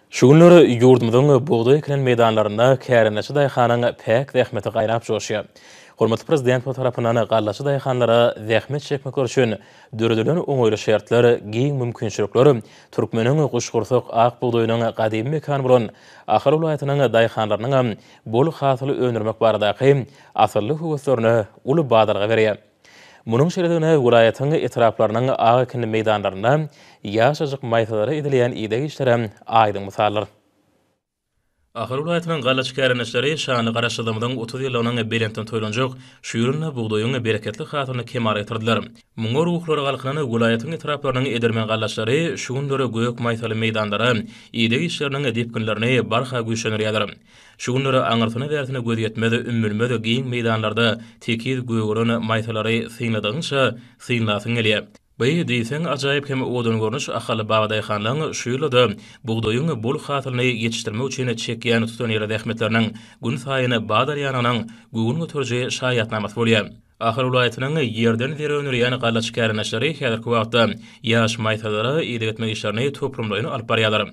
Şu günler ýurdumyzyň bugdaý ekilen meýdanlarynda kärendeçi daýhanyň päk zähmeti gaýnap joşýar. Hormatly Prezidentimiz tarapyndan gallaçy daýhanlara zähmet çekmekleri üçin döredilen oňaýly şertler, giň mümkinçilikler türkmeniň guşgursak ak bugdaýynyň gadymy mekany bolan Ahal welaýatynyň daýhanlarynyňam bol hasyl öndürmek baradaky asylly höweslerine uly badalga berýär. Munuň şeýledigine welaýatyň etraplarynyň ak ekinli meýdanlarynda ýaşajyk maýsalara edilýän ideg işleri aýdyň mysaldyr. Ahal welaýatynyň galla çikärendeçileri şanly Garaşsyzlygymyzyň otuz ýyllygynyň belentden toýlanjak şu ýylynda bugdaýyň bereketli hasylyny kemala getirdiler. Muňa ruhlary galkynan welaýatyň etraplarynyň edermen gallaçylary şu günler gök maýsaly meýdanlara ideg işleriniň depginlerini barha güýçlendirýärler. Şu günler aňyrsyna-bärsine göz ýetmez, ümmülmez giň meýdanlarda tekiz gögeren maýsalary synladygyňça, synlasyň gelýär. By, diýseň, ajaýyp hem owadan görnüş Ahal babadaýhanlaryň şu ýylda-da bugdaýyň bol hasylyny ýetişdirmek üçin çekýän tutanýerli zähmetleriniň gün saýyn badalýanynyň göwün göteriji şaýatnamasy bolýar. Ahal welaýatynyň ýerden zer öndürýän gallaçy kärendeçleri häzirki wagtda ýaş maýsalara ideg etmek işlerini toplumlaýyn alyp barýarlar.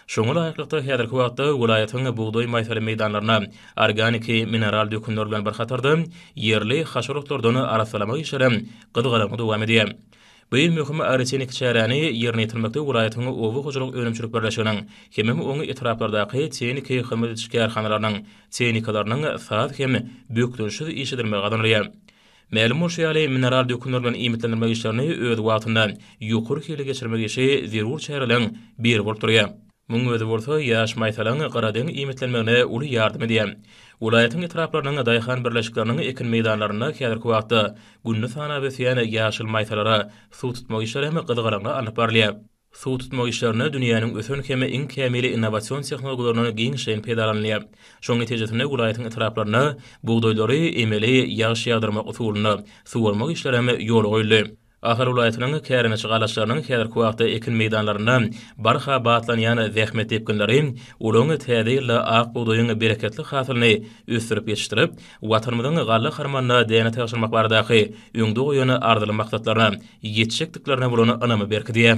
Şoňa laýyklykda, häzirki wagtda welaýatyň bugdaý maýsaly meýdanlaryna organiki mineral dökünler bilen bir hatarda, ýerli haşal otlardan arassalamak işlerem gyzgalaňly dowam edýär. Bu iň möhüm arsenik çäräni ýerine ýetirmekde welaýatyň oba hojalyk önümçilik birleşiginiň hemem oň etraplardaky tehniki hyzmat ediş kärhanalarynyň tehnikalarynyň saz hem bökdençsiz iş edilmegi gazanylýar. Mälim bolşy ýaly, mineral dökünler bilen iýmitlendirmek işlerini öz wagtynda, ýokary hilli geçirmek işi zerur çäreleriň biri bolup durýar. Munuň özi bolsa ýaş maýsalaň gyradeň iýmitlenmegine uly ýardam edýär. Welaýatyň etraplarynyň daýhan birleşikleriniň ekin meýdanlarynda häzirki wagtda gününi sanap ösýän ýaşyl maýsalara suw tutmak işleri hem gyzgalaňly alnyp barylýar. Suw tutmak işlerinde dünýäniň ösen hem iň kämil innowasion tehnologiýalaryndan giňişleýin peýdalanylýar. Şonuň netijesinde welaýatyň etraplarynda bugdaýlary emeli ýagyş ýagdyrmak usulynda suwarmak işleri hem ýola goýuldy. Ahal welaýatynyň kärendeçi galaçlarynyň häzirki wagtda ekin meýdanlarynda barha batlanýan zähmet depginleri olaryň täze ýylda ak bugdaýyň bereketli hasylyny ösdürip ýetişdirip, Watanymyzyň galla harmanyna däne tabşyrmak baradaky öňde goýan arzyly maksatlaryna ýetjekdiklerine bolan ynamy berkidýär.